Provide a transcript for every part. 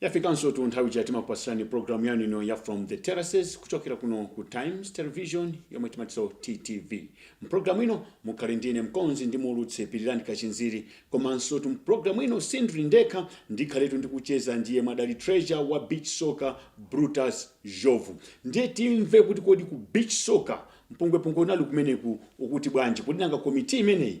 Yafikansotu nthawi ija timakupatsirani programu yanu ino ya From the Terraces kuchokera kuno ku Times Television yomwe timatinso TTV. Mprogramu ino mukhale ndine mkonzi ndi muulutsi Pilirani Kachinziri komansotu mprogramu ino sindili ndekha ndikhaletu ndikucheza ndi yemwe adali treasurer wa beach soccer Brutus Njovu. Ndiye timve kuti kodi ku beach soccer mpungwepungwe unali kumeneku ukuti bwanji kodi nanga komiti imeneyi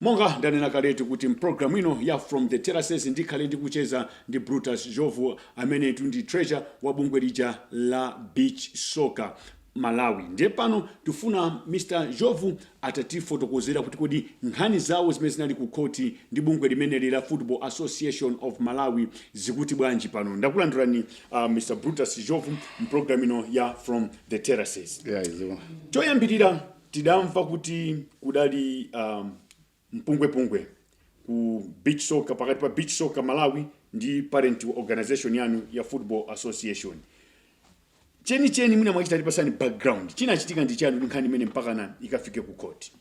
Monga ndanena kaletu kuti m'programu ino ya From the Terraces ndikhale ndikucheza ndi Brutus Njovu amenetu ndi treasurer wa bungwe lija la Beach Soccer Malawi. Ndiye pano tifuna Mr. Njovu atatifotokozera kuti kodi nkhani zao zimene zinali ku khoti ndi bungwe limeneli la Football Association of Malawi zikuti bwanji pano. Ndakulandirani uh, Mr. Brutus Njovu m'programu ino ya From the terraces Yeah, iziwa. choyambirira tidamva kuti kudali um, mpungwepungwe ku beach soccer pakati pa beach soccer malawi ndi parent organization yanu ya football association chenicheni mwina mwachidule tipatseni background chinachitika ndi chani kuti nkhani imeneyi mpakana ikafike ku court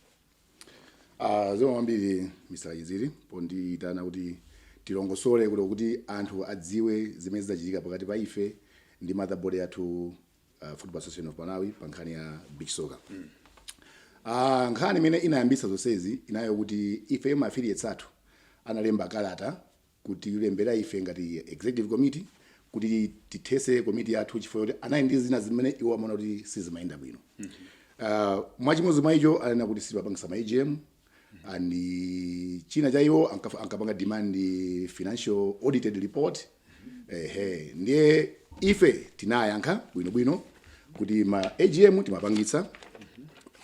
Ah, zikomo kwambiri Mr. Kachinziri pondiitana kuti tilongosole kuti kuti anthu adziwe zimene zinachitika pakati pa ife ndi mother body yathu uh, football association of malawi pa nkhani ya beach soccer Ah, nkhani imene inayambitsa zonsezi inali yoti ife ma affiliates athu analemba kalata kutilembera ife ngati executive committee kuti tithese komiti yathu chifukwa choti anali ndi zina zimene iwo amaona kuti sizimayenda bwino mm -hmm. uh, mwachimodzi mwa icho ananena kuti sitimapangitsa ma agm and china chake iwo anka- ankapanga demand financial audited report ehe ndiye ife tinayankha bwinobwino kuti ma agm timapangitsa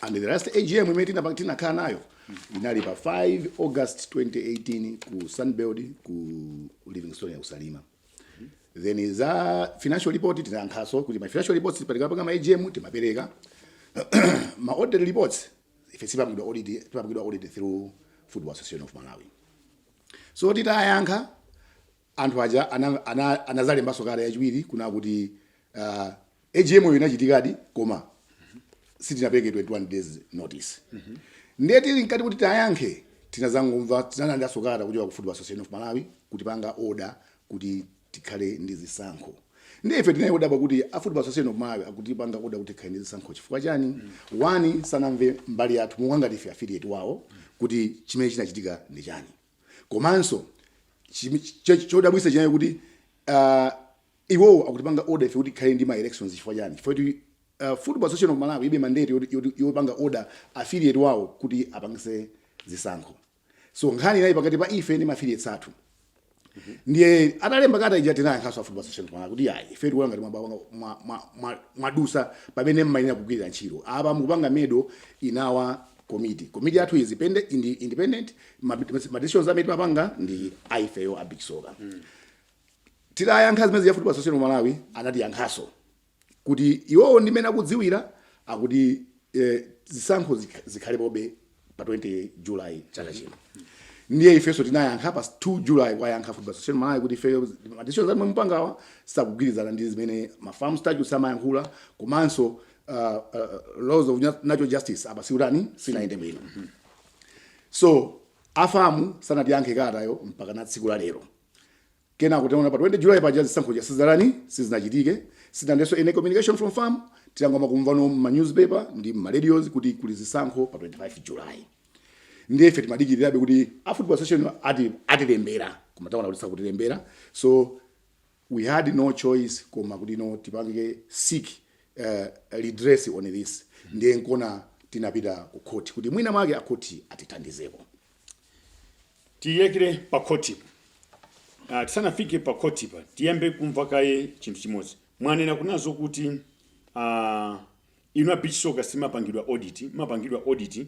and the last agm imene tinapa- tinakhala nayo Inali pa 5 August 2018 ku Sunbird ku Livingstonia ku Salima. Then za financial report tinayankhanso kuti ma financial reports tikapanga ma AGM timapereka. ma audit reports ife sitimapangidwa audit timapangidwa audit through Football Association of Malawi. So titayankha anthu aja ana, ana, anazalembanso kalata yachiwiri kunena kuti uh, AGM yo inachitikadi koma sitinapereke 21 days notice mm -hmm. ndiye tili mkati kuti tiyankhe tinazangomva tinalandiranso kalata kuchoka ku Football Association of Malawi kutipanga order kuti tikhale ndi zisankho ndiye ife tinali odabwa kuti a Football Association of Malawi akutipanga order kuti tikhale ndi zisankho chifukwa chani mm -hmm. one sanamve mbali yathu monga ngati ife affiliate wawo kuti chimene chinachitika ndi chani komanso chodabwitsa chinaye kuti uh, iwowo akutipanga order ife kuti tikhale ndi ma elections chifukwa chani chifukwa kuti uh, football association of malawi ilibe mandate yopanga order affiliate wawo kuti apangitse zisankho so nkhani inali pakati pa ife ndi affiliates athu ndiye atalemba kalata ija tinayankhanso a football association of malawi kuti ayi ife tikuona ngati mwadutsa mwa, mwa, pamene mmayenera kugwirira ntchito apa mukupanga meddle in our committee committee yathu is independent ma, ma decisions amene timapanga ndi aifeyo a beach soccer titayankha zimenezi a football association of malawi anatiyankhanso kuti iwowo ndi mmene akudziwira akuti eh, zisankho zikha- zikhalapobe pa 20 july chaka chino ndiye ifenso tinayankha pa 2 july kuwayankha football association of malawi kuti ifeyo madecisions amene mukupangawa sakugwirizana ndi zimene ma fam statutes amayankhula komanso uh, uh, laws of nat- natural justice apa sizinatani sizinayende bwino so a fam sanatiyankhe kalatayo mpakana tsiku la lero kenako titaona pa 20 july paja zisankho zija sizinatani sizinachitike sitinalandirenso any communication from fam tinangomakumvano mma newspaper ndi mma radios kuti kuli zisankho pa 25 july ndiye ife timadikirirabe kuti a football association ati atilembera koma taona kuti sakutilembera so we had no choice koma kuti tsono tipange seek redress on this ndiye nkona tinapita ku khoti kuti mwina mwake akhoti atithandizeko tionekere pa khoti uh, tisanafike pa khoti pa tiyambe tamva kaye chinthu chimodzi mwanena kunena zokuti uh, inu a beach soccer simumapangidwa audit mumapangidwa audit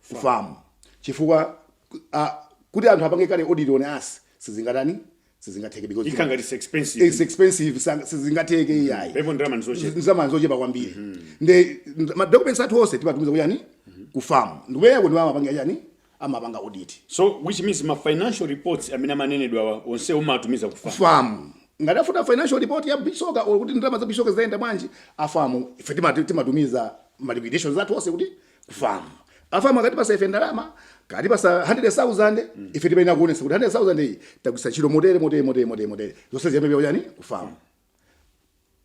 fam chifukwa a kuti anthu apange carry audit on us sizingatani sizingatheke because Ikhala ngati it's expensive. it's expensive sang- sizingatheke iyayi Penapo ndalama ndizochepa. ndalama zochepa kwambiri nde ma documents athu onse timatumiza kuti chani ku fam ndi kumeneko ndi amapanga chani amapanga audit So which means ma financial reports amene amanenedwa onse mumatumiza ku fam. fam ngati akufuna financial report ya beach soccer or kuti ndalama za beach soccer zayenda bwanji a fam ife timati- timatumiza ma liquidations athu onse kuti ku fam a fam akatipatsa ife ndalama akatipatsa 100000 ife timayenera kuonetsa kuti 100000 iyi tagwiritsa ntchito motere motere motere motere motere zonse ziyambe chani ku fam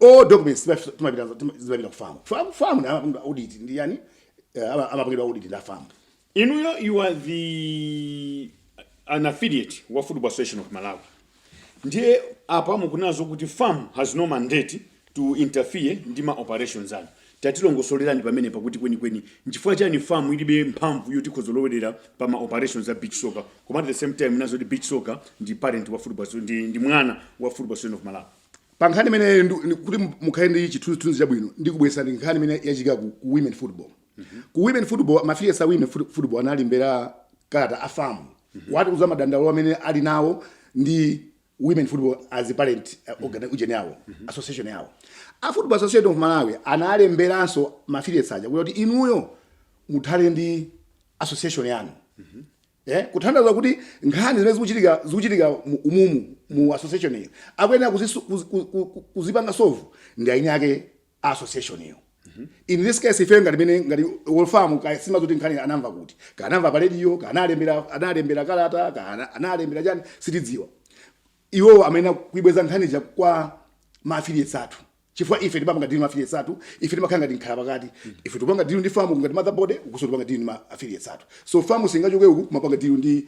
all documents timaf- timapita tim- zimapita ku fam fam fam na amapanga audit ndi chani eh, ama- amapangidwa audit ndi a fam inuyo you are the an affiliate wa football association of malawi ndiye apa mukunena zokuti fam has no mandate to interfere ndi ma operations anu tatilongosolerani pamenepa kuti kwenikweni nchifukwa chani fam ilibe mphamvu yoti ikhoza kulowerera pa ma operations a beach soccer koma at the same time mukunena zokuti beach soccer ndi parent wa football so- ndi, ndi mwana wa football association of malawi pa nkhani imene ndu- ndi- kuti mukhale ndi chithunzithunzi chabwino ndikubweretserani nkhani imene yachitika ku, ku women football mm -hmm. ku women football mafilietsi a women football analembera kalata a famu mm -hmm. wati uza madandaulo amene ali nawo ndi women football as a parent uh, mhm. ujeni yawo mm -hmm. association yawo a football association of malawi analemberanso mafilietsi aja kuti inuyo muthane ndi association yanu mm -hmm. Eh, kuthandauza kuti nkhani zimene zikuchitika zikuchitika umumu mu association iyi akuyenera kuzipanga solve ndi eni ake association iyo in this case ife ngati mene ngati olo famu ka sima zoti nkhani anamva kuti kaya anamva pa radio kaya analembera analembera kalata kaya ana- analembera chani sitidziwa iwo amayenera kuibweza nkhani ja kwa maafilietsi athu chifukwa ife timapanga deal ndi maafilietsi athu ife timakhala ngati nkhala pakati ife tipanga deal ndi famu ngati mother body ukunso tipanga deal ndi maafilietsi athu so famu singachoke uku kumapanga deal ndi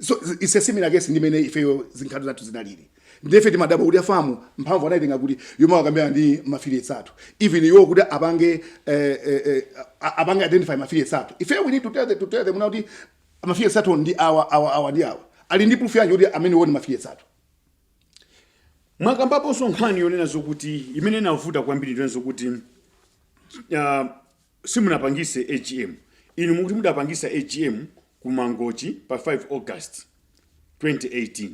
so it's a similar case ndi mmene ifeyo zinkhani zathu zinalili nde ife timadabwa kuti afamu mphamvu anayitenga kuti yomakambirana ndi mafilietsi athu even iwo kuti apange eh, eh, eh, a- apange identify mafilietsi athu ife we need to tell them, to tell them now kuti mafilietsi athu ndi awa awa awa ndi awa ali ndi proof yanji kuti amenewo ndi mafilietsi athu mwakambaponso nkhani yonena zokuti imene inavuta kwambiri ndi yonena zokuti uh, simunapangise agm inu mukuti mudapangisa agm ku mangochi pa 5 august 2018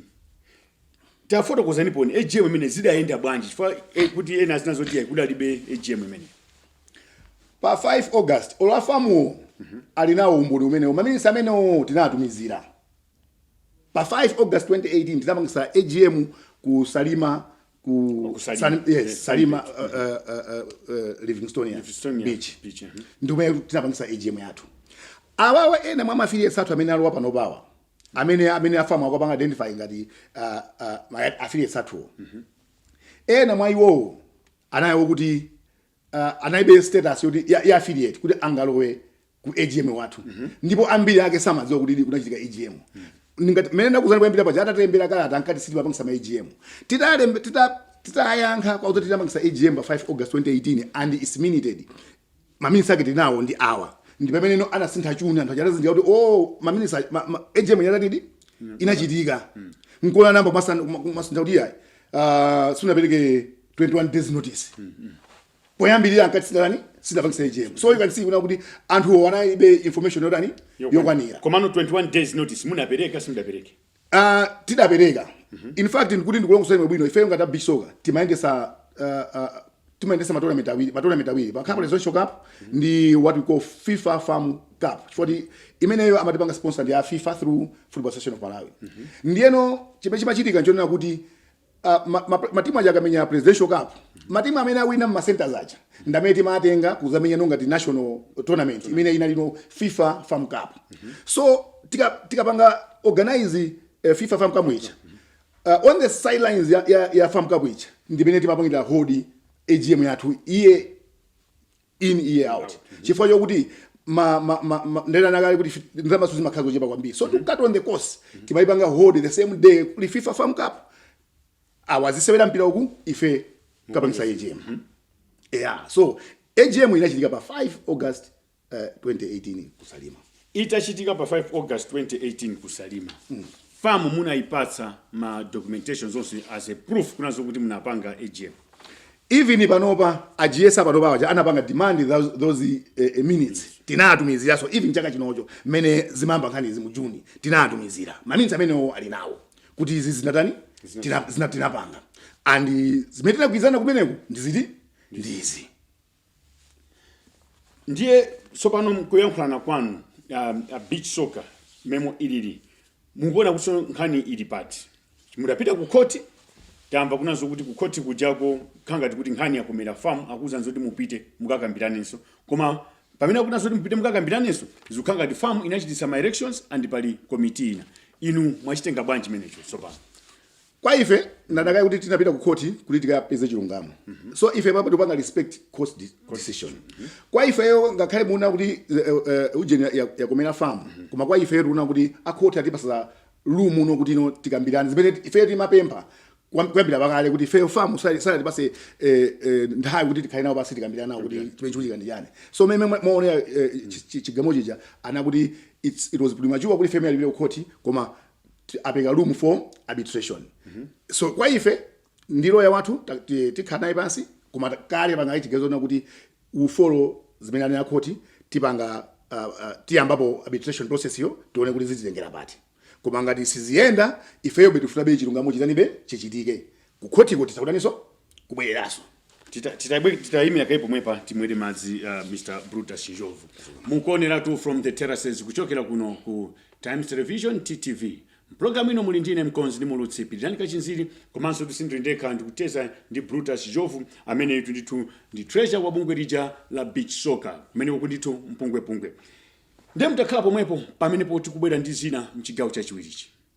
tafotokozaniponi agm imene zidayenda bwanji chifukwa eh, kuti ena azinena zoti yayi kudalibe agm imeneyo pa 5 august olo afamuwo ali nawo umboni umenewo maminisi amenewo tinatumizira pa 5 august 2018 tinapangisa agm ku salima ku Oh, ku Salima. Salim- yes, Yes, salima uh, uh, uh, uh, livingstonia Livingstonia beach Beach, mhm. ndi kumene tinapangisa agm yathu awawa ena mwa mafiliesi athu amene alowa panopawa amene amene afamu akupanga identify ngati uh, uh, ma- affiliates athuwo ena mwa iwowo anali okuti uh, analibe status yoti ya, ya affiliate kuti angalowe ku AGM wathu ndipo ambiri ake samadziwa kuti ili kunachitika AGM ndingati mmene ndakuuzani kuyambira paja atatilembera kalata ankati sitimapangisa ma AGM titalembe tita titayankha kwa kuti tinapangisa AGM pa 5 August 2018 and it's minuted maminisi ake tili nawo ndi awa ndi pamene now anasintha chuni anthu aja atazindikira kuti oh maminisi a- ma, ma, AGM yatatidi inachitika nkona anayamba kumasintha kuti yayi uh, sunapereke 21 days notice poyambirira ankati sitidatani sitidapangise AGM so you can see kunena kuti anthuwo analibe information yotani yokwanira komano 21 days notice munapereka simudapereke Ah, tidapereka in fact ndikuti ndikulongosola bwino ifeyo ngati a beach soccer timayendesa ah, ah, timayendesa matournament awiri matournament awiri pakhala Presidential Cup ndi what we call FIFA FAM Cup chifukwa imeneyo amatipanga sponsor ndi a FIFA through Football Association of Malawi ndiyeno chimene chimachitika nchonena kuti Ah, ma- ma- matimu aja akamenya presidential cup matimu amene awina mma centers aja ndamene timatenga kuzamenyano ngati national tournament imene inalino fifa fam cup so tika- tikapanga organize eh, fifa fam cup ija uh, on the sidelines ya, ya, ya fam cup ija ndimene timapangira hold agm yathu year in year out chifukwa chokuti ma, ma, ma, ma, ndanena kale kuti fi- ndalamazo zimakhala zochepa kwambiri so to cut on the costs timayipanga hold the same day kuli fifa fam cup awa azisewera mpira uku ife kapangisa agm yeah so agm inachitika pa 5 august uh, 2018 ku salima Itachitika pa 5 August 2018 ku Salima, fam munaipatsa ma documentations onse as a proof kunena zokuti munapanga AGM. Even panopa a GS a panopa aja anapanga demand thou- those eh, eh, minutes tinawatumiziranso even chaka chinocho mmene zimayamba nkhani izi mu June tinawatumizira ma minutes amenewo ali nawo kuti izi zinatani Tina- zina- tinapanga and zimene tinagwirizana kumeneko ndiziti ndizi ndiye tsopano mkuyankhulana kwanu um, a beach soccer mmene ilili mukuona kuti tsono nkhani ili pati mudapita ku khoti tamva kunena zokuti ku khoti kujako kukhala ngati kuti nkhani yakomera fam akuwuzani zoti mupite mukakambiranenso koma pamene akuwuzani zoti mupite mukakambiranenso zikukhala ngati fam inachititsa ma elections and pali komiti ina inu mwachitenga bwanji chimenecho tsopano Kwa ife ndanena kale kuti tinapita ku court kuti tikapeze chilungamo mm -hmm. so ife panopa tikupanga respect court de decision mm -hmm. kwa ifeyo ngakhale mukunena kuti uh, eh, uh, eh, eh, ujeni ya, ya yakomera fam mm -hmm. koma kwa ife tikuona kuti a court atipasa room uno kuti no tikambirane zimene ife timapempha kuyambira pakale kuti ife fam sana- sanatipase eh, eh nthawi kuti tikhale nawo pansi tikambirane nawo kuti chimene chikuchitika ndi chani so mmene muone eh, chigamulo chija anena kuti it's it was premature kuti ife tipite ku court koma ti- apereka room for arbitration so kwa ife ndi loya wathu ta- ti- tikhala naye pansi koma ta- kale panga chiganizo kunena kuti tifolo zimene anena khoti tipanga uh, uh, tiyambapo arbitration processyo tione kuti zititengera pati koma ngati siziyenda ifeyobe tifunabe chilungamo chitanibe chichitike ku khotiko titha kutaniso kubwereraso titayimira kaye pomwepa timwere madzi uh, mr brutus njovu mukuoneratu from the terraces kuchokera kuno ku times television ttv mpulogalamu ino muli ndi ine mkonzi ndi muulutsi pirirani kachinziri komansotu sindili ndekha ndikucheza ndi brutus njovu ameneyutu ndithu ndi treasurer wa bungwe lija la beach soccer kumene kuli ndithu mpungwepungwe ndiye mutakhala pomwepo pamenepo tikubwera ndi zina mchigawo chachiwirichi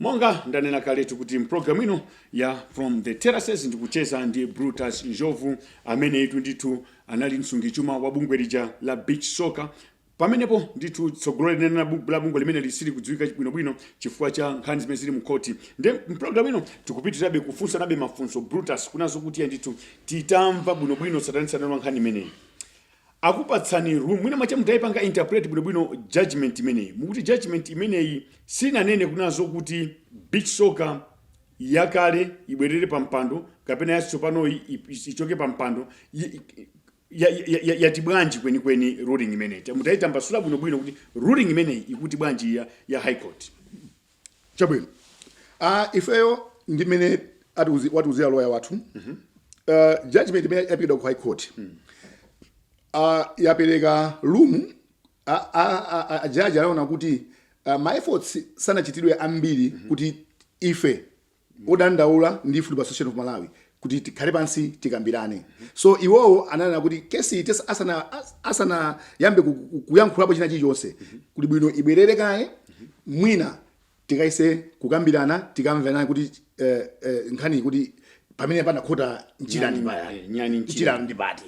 monga ndanena kaletu kuti mpulogalamu ino ya from the terraces ndikucheza ndi brutus njovu amene itu ndithu anali msungichuma wa bungwe lija la beach soccer pamenepo ndithu tsogolo lenileni la bu- la bungwe limene lisakudziwika bwinobwino chifukwa cha nkhani zimene zili mkhoti nde mpulogalamu ino tikupitirizabe kufunsanabe mafunso brutus kunena zokuti ya ndithu titamva bwinobwino tsatanetsatane wa nkhani imeneyi akupatsani mwina mwache mutaipanga interpret bwinobwino judgment imeneyi mukuti judgment imeneyi sinanene kunena zokuti beach soccer yakale ibwerere pa mpando kapena yatsopanoyi ip- ichoke pa mpando y- y- ya- ya- ya- yati bwanji kwenikweni ruling imeneyi mutaitambasula bwinobwino kuti ruling imeneyi ikuti bwanji ya, ya high court chabwino ah, ifeyo ndi mmene atiuzi- watiuzira loya wathu Ah, judgment imene yaperekedwa ku high court Ah, yapereka room a- a- a- a- ajaji anaona kuti ah, ma efforts sanachitidwe ambiri kuti ife odandaula ndi Football Association of Malawi kuti tikhale pansi tikambirane. So iwowo ananena kuti case iyi tesa- asana as- asanayambe ku- ku- kuyankhulapo china chilichonse kuli bwino ibwerere kaye mwina tikayese kukambirana tikamvane kuti eh, eh, nkhani kuti pamene panakhota njira ndi payani eh, nyani njira. njira ndi pati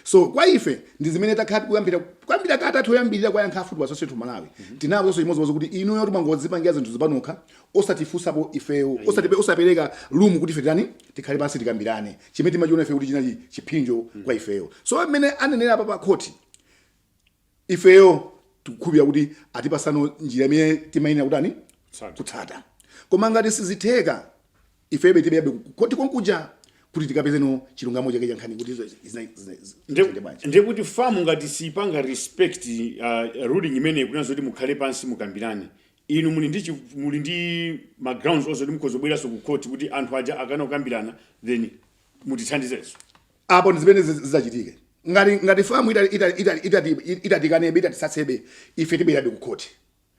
so kwa ife ndi zimene takhala tikuyankhula kuyambira kalata yoyambirira kuwayankha a Football Association of Malawi tinawauzanso chimodzimodzi kuti inuyo mwangodzipangira zinthu izi panokha osatifunsapo ifeyo osatipe osapereka room kuti ife tani tikhale pansi tikambirane chimene timachiona ife kuti chinali chipsinjo kwa ifeyo so mmene anenera a a khoti ifeyo tikukhulupirira kuti atipatsano njira imene timayenera kutani Tsata. kutsata koma ngati sizitheka ifebe tibwererabe kukhoti konkuja kuti tikapezeno chilungamo chake chankhani kuti izo zina- zina- zina- zina- bwanji. ndiye kuti fam ngati siyipanga respect uh, ruling imeneyi kunena zoti mukhale pansi mukambirane inu muli ndi chi- muli ndi ma grounds onse kuti mukhoza kubweranso ku court kuti anthu aja akana kukambirana then mutithandizenso apo ndi zimene ziz- zidzachitike ngati ngati fam itati- itati- itati- itati- itatikanebe itatitsutsebe ife tibwerabe kukhoti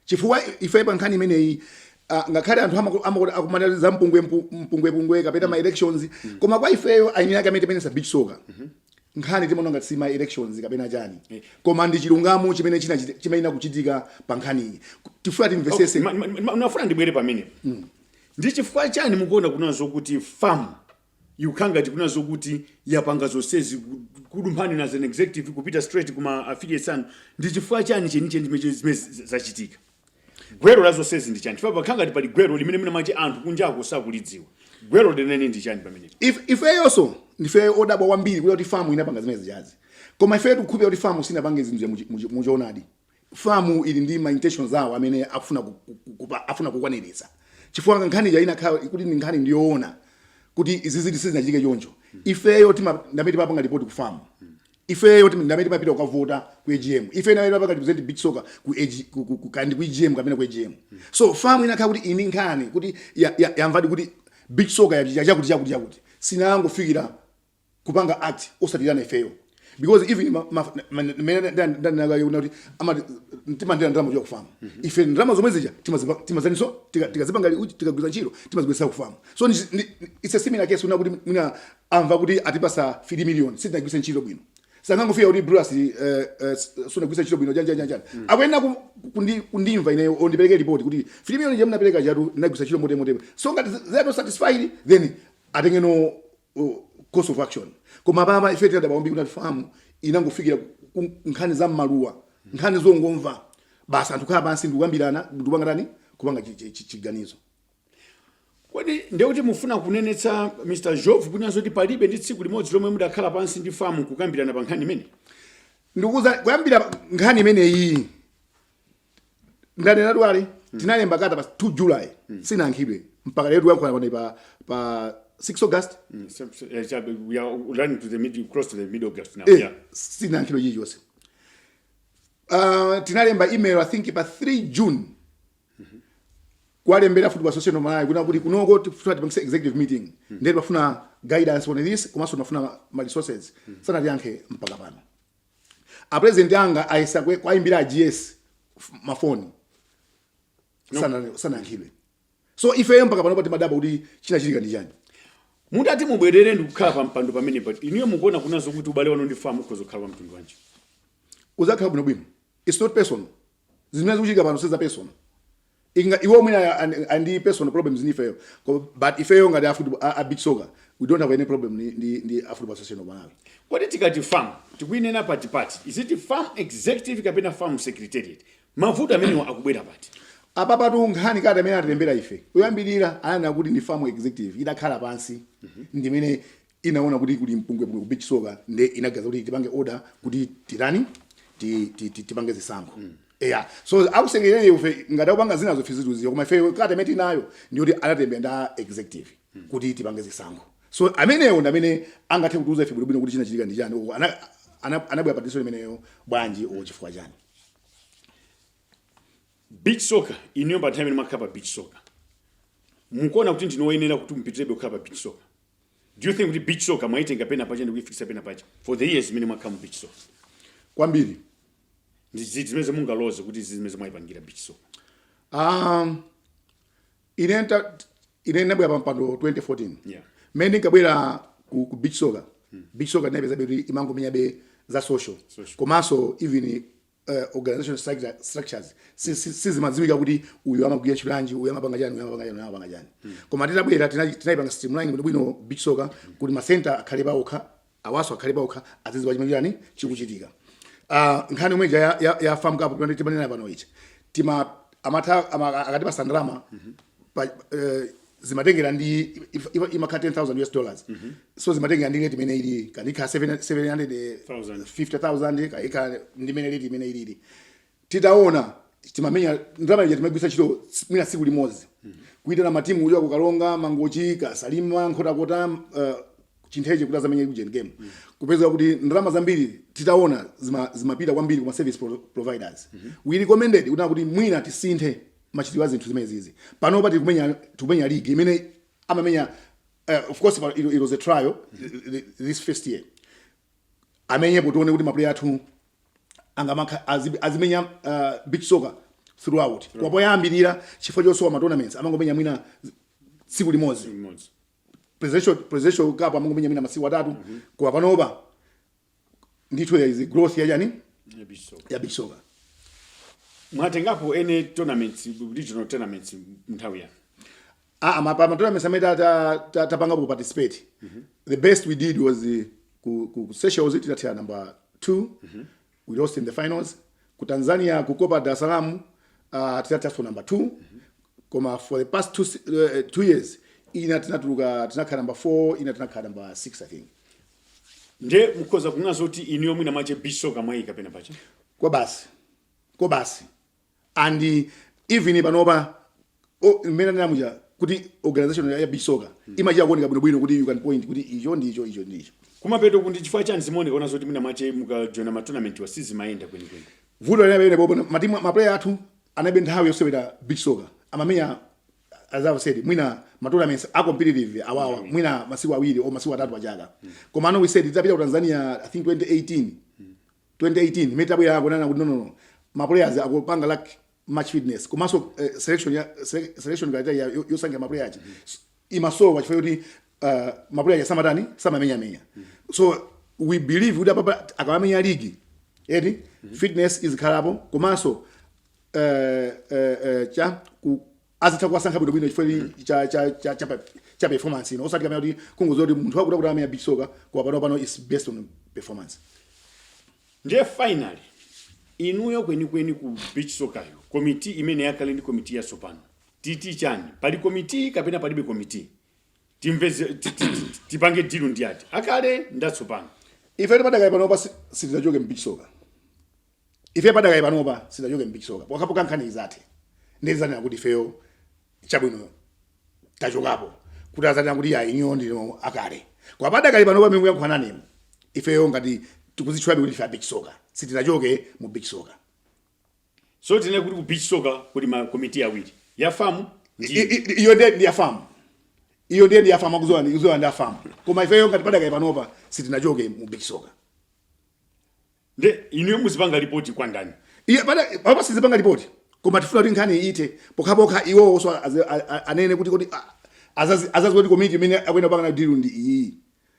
chifukwa ife pa nkhani imeneyi ah, ngakhale anthu amaku- amakuti akumana za mpungwe- mpu- mpungwepungwe kapena ma elections koma kwa ifeyo eni ake amene timenyetsa beach soccer nkhani timaona ngati sima elections kapena chani eh, koma ndi chilungamo chimene chimayenera kuchitika pa nkhaniyi tifuna timvetsetse ndimafuna ndibwere pamenepo mm. ndi chifukwa chani mukuona kunena zokuti fam yikukhala ngati kunena zokuti yapanga zonsezi kudumphani inu as an executive kupita straight kuma affiliates anu ndi chifukwa chani chenicheni zimene zachitika gwero la zonsezi ndi chani chifukwa pakhala ngati pali gwero limene mwina mwache anthu kunjako sakulidziwa gwero lenene ndi chani pamenepo If- ifeyonso ndife odabwa kwambiri kuya kuti FAM inapanga zimene zijazi koma ifeyo tikukhulupirira kuti FAM sinapange zinthu za muchi- muchi- muchoonadi FAM ili ndi ma intentions awo amene akufuna ku- ku- ku- kupa- akufuna kukwaniritsa chifukwa nkhani ija ikanakhala kuti ndi nkhani ndiyoona kuti izi izi sizinachitike choncho ifeyo tima- ndamene timapanga ripoti ku FAM ifeyo tim ndamene timapita kukavota ku agm ife ndamene timapanga represent beach soccer ku, AG, ku, ku, ku, kandi ku agm kapena ku agm so FAM ikanakhala kuti ili nkhani kuti ya- ya- yamvadi kuti beach soccer yachita chakuti chakuti chakuti sikanangofikira kupanga act osatiitana ifeyo because even ma- ma- ma- mene nda- nda- nda- nda- kuti amati timalandira ndalama kuja ku FAM ife ndalama zomwe zija timazipa- timazaniso tika- tikazipanga li- uchi, tikagwiritsa ntchito timazibwezesa ku FAM so ni- ni- it's a similar case una kuti mwina amva kuti atipasa 3 million sitinagwiritse ntchito bwino sangangofika kuti Bruce eh, eh, sunagwiritse ntchito bwino janjanjanjani mm. akuyenera ku- kundi- kundimva ineyo ndipereke ripoti kuti 3 million ija munapereka ijatu ndinagwiritsa ntchito motere motere so ngati they are not satisfied then atengeno uh, course of action koma apapa ife tinadabwa kwambiri kuti FAM inangofikira ku- ku- nkhani za mmaluwa nkhani zongomva basi anthu kukhala pansi ndikukambirana ndikupanga tani kupanga chi- chi- chi- chiganizo Kodi ndiye kuti mufuna kunenetsa Mr Job kunena zoti palibe ndi tsiku limodzi lomwe mudakhala pansi ndi FAM kukambirana pa nkhani imeneyi? ndikukuuzani kuyambira nkhani imeneyi ndanena dwale tinalemba kalata pa 2 july sinayankhidwe mpaka lero tikuyankhula pano pa pa 6 august Mm, so- so- eh, chabe, we are running to the middle, close to the middle of august now. Eh, Yeah. sitinayankhidwe chilichonse Ah, tinalemba email i think pa 3 june kuwalembera football association of malawi kunena kuti kunoko tikufuna tipangise executive meeting ndiye timafuna guidance on this komanso timafuna ma resources sanatiyankhe mpaka pano apresident anga ayesa kwe- kwayimbira a GS mafoni Sana- sanayankhidwe so ifeyo mpaka pano pa timadabwa kuti chinachitika ndi chani mutati mubwerere ndi kukhala pa mpando pamenepa inuyo mukuona kunena zoti ubale wanu ndi FAM ukhoza kukhala wa mtundu wanji uzakhala bwinobwino its not personal zimene zikuchitika pano siza personal Inga, iwo mwina ali ndi personal problems ni ifeyo but ifeyo ngati a, a, a beach soccer we don't have any problem ni, ni, ni a football association of Malawi kodi tikati FAM tikuinena pati pati is it FAM executive kapena FAM secretariat mavuto amenewa akubwera pati apapatu nkhani ngati amene atilembera ife kuyambirira ananena kuti ndi FAM executive idakhala pansi mm -hmm. ndimene inaona kuti kuli mpungwepungwe ku beach soccer nde inaganiza kuti tipange order kuti titani ti- ti- ti- tipange zisankho eya so akusengerere ife ngati akupanga zinazo fiziruziyo koma ife kalata imene tinayo ndiyoti analembera nda executive kuti tipange zisankho so amenewo ndi amene angathe kutiuza ife bwinobwino kuti chinachitika ndi chani Uko ana- ana- anabwera patiso imeneyo bwanji o chifukwa chani beach soccer inuyo pa nthawi imene mwakhala pa beach soccer mukuona kuti ndinu oyenera kuti mupitirebe kukhala pa beach soccer do you think kuti beach soccer mwaitenga pena pache ndikuifikisa pena pache for the years imene mwakhala mu beach soccer kwambiri ndi ziti zimene mungaloze kuti izi zimene mwaipangira beach soccer um, ine nta- ine ndabwera pa mpando 2014 Yeah. mmene ndinkabwera ku, ku beach soccer beach soccer ndinapeza kuti imangomenyabe za social Social. komanso even uh, organizational structure- structures si- si- sizimadziwika kuti uyu amagwira ntchito yanji uyu amapanga chani uyu amapanga chani uyu amapanga chani koma titabwera tina- tinayipanga streamline kuti bwino beach soccer kuti ma center akhale paokha awaso akhale paokha azidziwa chimene chani chikuchitika Ah, nkhani yomwe ija ya- ya- ya FAM cup pamene timanena pano each time amatha ama- akatipasa ndalama pa, eh, zimatengera ndi if- if- imakhala 10000 us dollars so zimatengera ndi rate imene ili kanikha 750000 kaika ndimene rate imene ilili titaona timamenya ndalama ija timagwisa ntchito s- mwina tsiku limodzi kuitana matimu uja ku karonga mangochi ku salima nkhotakota uh, chintheche kuti azamenye ujeni game kupeza kuti ndalama zambiri titaona zima- zimapita kwambiri kuma service pro- providers we recommended kuti kuti mwina tisinthe machitidwe a zinthu zimenezizi panopa tikumenya tikumenya league imene amamenya uh, of course pa- it, it was a trial uh, this first year amenyepo tione kuti maplayer athu angamakha azi- azimenya uh, beach soccer throughout koma poyambirira chifukwa chosowa ma tournaments amangomenya mwina z- tsiku limodzi Mmodzi. presidential presidential cup amangomenya mwina masiku atatu koma panopa ndithu there is a growth ya chani ya beach soccer mwatengapo any tournaments regional tournaments mnthawi yanu Ah, ma pa ma tournaments amene ta, ta, tapangapo participate. The best we did was uh, ku ku ku Seychelles tinathera number 2. We lost in the finals. Ku Tanzania ku Copa Dar es Salaam uh tinatheraso number 2. Koma for the past two se- uh, two years ina tinatuluka tinakhala number 4 ina tinakhala number 6 I think. nde mukhoza kunena zoti inuyo mwina mwache beach soccer mwayika pena pache kwabasi kwabasi and even panopa o- mmene ndanena muja kuti organization ya ya beach soccer imachita kuoneka bwinobwino kuti you can point kuti icho ndi icho icho ndi icho kumapeto kuti chifukwa chani zimaonekana zoti mwina mwache mukajoina ma tournament awa sizimayenda kwenikweni vuto linapene popo matimu maplayer athu anaibe nthawi yosewera beach soccer amamenya as I've said, mwina matournaments are competitive awawa mm. mwina masiku awiri o masiku atatu achaka mm. koma ano we said tidzapita ku Tanzania I think 2018 mm. 2018 imene tabwera akunana kuti no no no ma players akupanga lack match fitness komanso uh, eh, selection ya selection criteria yosankha ma players mm. imasowa chifukwa kuti uh, eh, ma players samatani samamenya menya mm. so we believe kuti apapa akamamenya league eti mm. fitness izikhalapo komanso eh, eh, eh, cha ku azitha kuwasankha bwino bwino chifukwa ili cha cha cha cha pa- cha performance ino osati kamene kuti kungozowa kuti munthu wakutiwakuti amenya beach soccer kwa pano pano is based on performance ndiye finally inuyo kwenikweni ku beach sokayo komiti imene yakale ndi komiti yatsopano titi chani pali komiti kapena palibe komiti timveze ti- ti- ti- tipange dilu ndi ati akale ndatsopano ife padakali panopa sitizachoke mbeach soccer Ife padakali panopa sitidachoke m'beach soccer pokhapokha nkhani izathe ndiye tizanena kuti ifeyo chabwino tachokapo kuti azatinena kuti iyayi inuyo ndinu akale koma padakali panopa pamene ndikuyankhula nanumu ifeyo ngati tikuzitchulabe kuti ndife a beach soccer sitidachoke mu beach soccer. So tinene kuti ku beach soccer kuli ma committee awiri ya fam ndi I- i- i- iyo ndiye ndi ya fam iyo ndiye ndi ya fam akuzowa ndi akuzowa ndi a fam koma ifeyo ngati padakali panopa sitinachoke mu beach soccer. nde inuyo muzipanga lipoti kwa ndani Iyayi apapa sitizipanga lipoti koma tifuna kuti nkhani iithe pokhapokha iwowo so azi- a- a- anene kuti kuti a- azazi- azaziwa kuti komiti imene akuyenera kupanga nayo dilu ndi iyi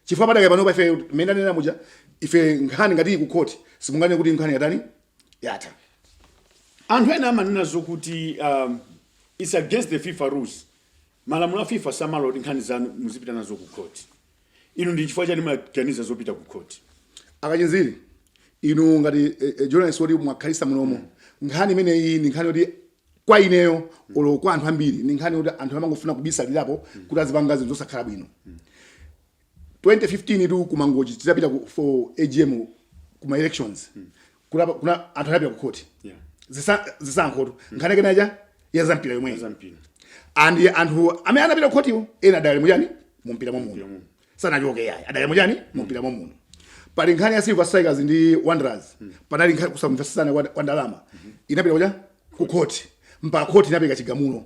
chifukwa padakali panopa ife mmene anena muja ife nkhani ngati iyi kukhoti simunganene kuti nkhani yatani yatha anthu ena amanena zokuti um, its against the fifa rules malamulo a fifa samalola kuti nkhani zanu muzipita nazo ku court inu ndi chifukwa chani munaganiza zopita ku khoti akachinziri inu ngati eh, eh, journalist woti mwakhalisa munomo nkhani imeneyi ndi nkhani yoti kwa ineyo olo kwa anthu ambiri ndi nkhani yoti anthu amangofuna kubisalirapo kuti azipanga zinthu zosakhala bwino 2015 tu kumangochi titapita ku- for agm kuma elections kuna- kuna anthu anapita ku khoti Yeah. Zisa- zisankhotu nkhani yake naja ya zampira yomweyi Zampira. and anthu amene anapita ku khotiwo ena adali muchani mumpira mwa muno muno. sanachoke yayi adali muchani mumpira mwa muno pali nkhani ya silver strikers ndi wanderers panali nkhani kusamvetsesana kwa kwa ndalama inapita kuja ku khoti mpaka khoti inapereka chigamulo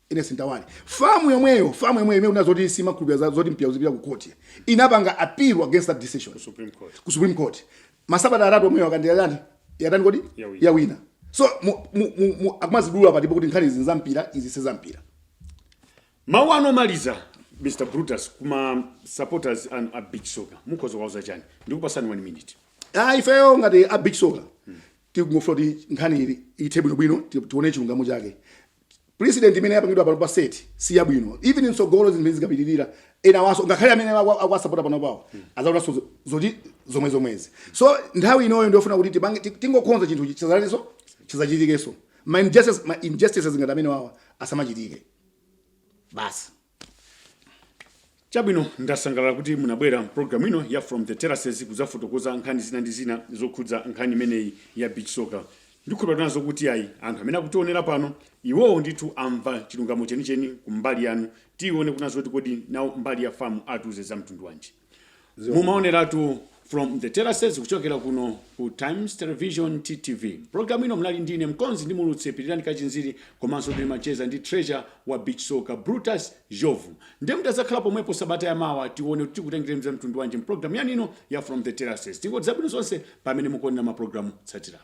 Ernest Mtawali famu yomweyo famu yomweyo imene ikunena zoti simakhulupirira za- zoti mpira uzipita ku court inapanga appeal against that decision Supreme Court. ku supreme court masabata atatu omweyo Akachinziri yatani kodi Yawina. yawina so mu- mu- mu- mu- akumazidula patipo kuti nkhani izi nzampira izi sizampira mawu anu omaliza mr brutus kuma supporters anu a beach soccer mukhoza kuwauza chani ndikupasani one minute ah ifeyo ngati a beach soka tikungofuna kuti nkhani iyi ithe bwinobwino ti- tione chilungamo chake precedent imene yapangidwa pano pa set si yabwino even mtsogolo zinthu zimene zikapitirira enawonso ngakhale amene akwa- akwasapota pano pawo azaonanso zo- zoti zomwe zomwezi so nthawi inoyo ndiyofuna kuti tipange ti- tingokonza chinthu chizalaniso chisazachitikenso ma injustices ma injustices ngati amenewawa asamachitike basi chabwino ndasangalala kuti munabwera mpulogalamu ino ya from the terraces kudzafotokoza nkhani zina ndi zina zokhudza nkhani imeneyi ya beach soccer ndikhulupira kunena zoti ayi anthu amene akutionera pano iwowo ndithu amva chilungamo chenicheni kumbali yanu tione kunena zoti kodi nawo mbali ya FAM atiuze za mtundu wanji mumaoneratu from the terraces kuchokera kuno ku times television ttv programu ino mnali ndine mkonzi ndi muulutsi pirirani kachinziri komanso ndinali kucheza ndi treasurer wa beach soccer brutus njovu ndiye mutazakhala pomwepo sabata ya mawa tione kuti tikutengereni za mtundu wanji mpulogalamu yanino ya from the terraces tingoti zabwino zonse pamene mukuonera mapulogalamu otsatirawa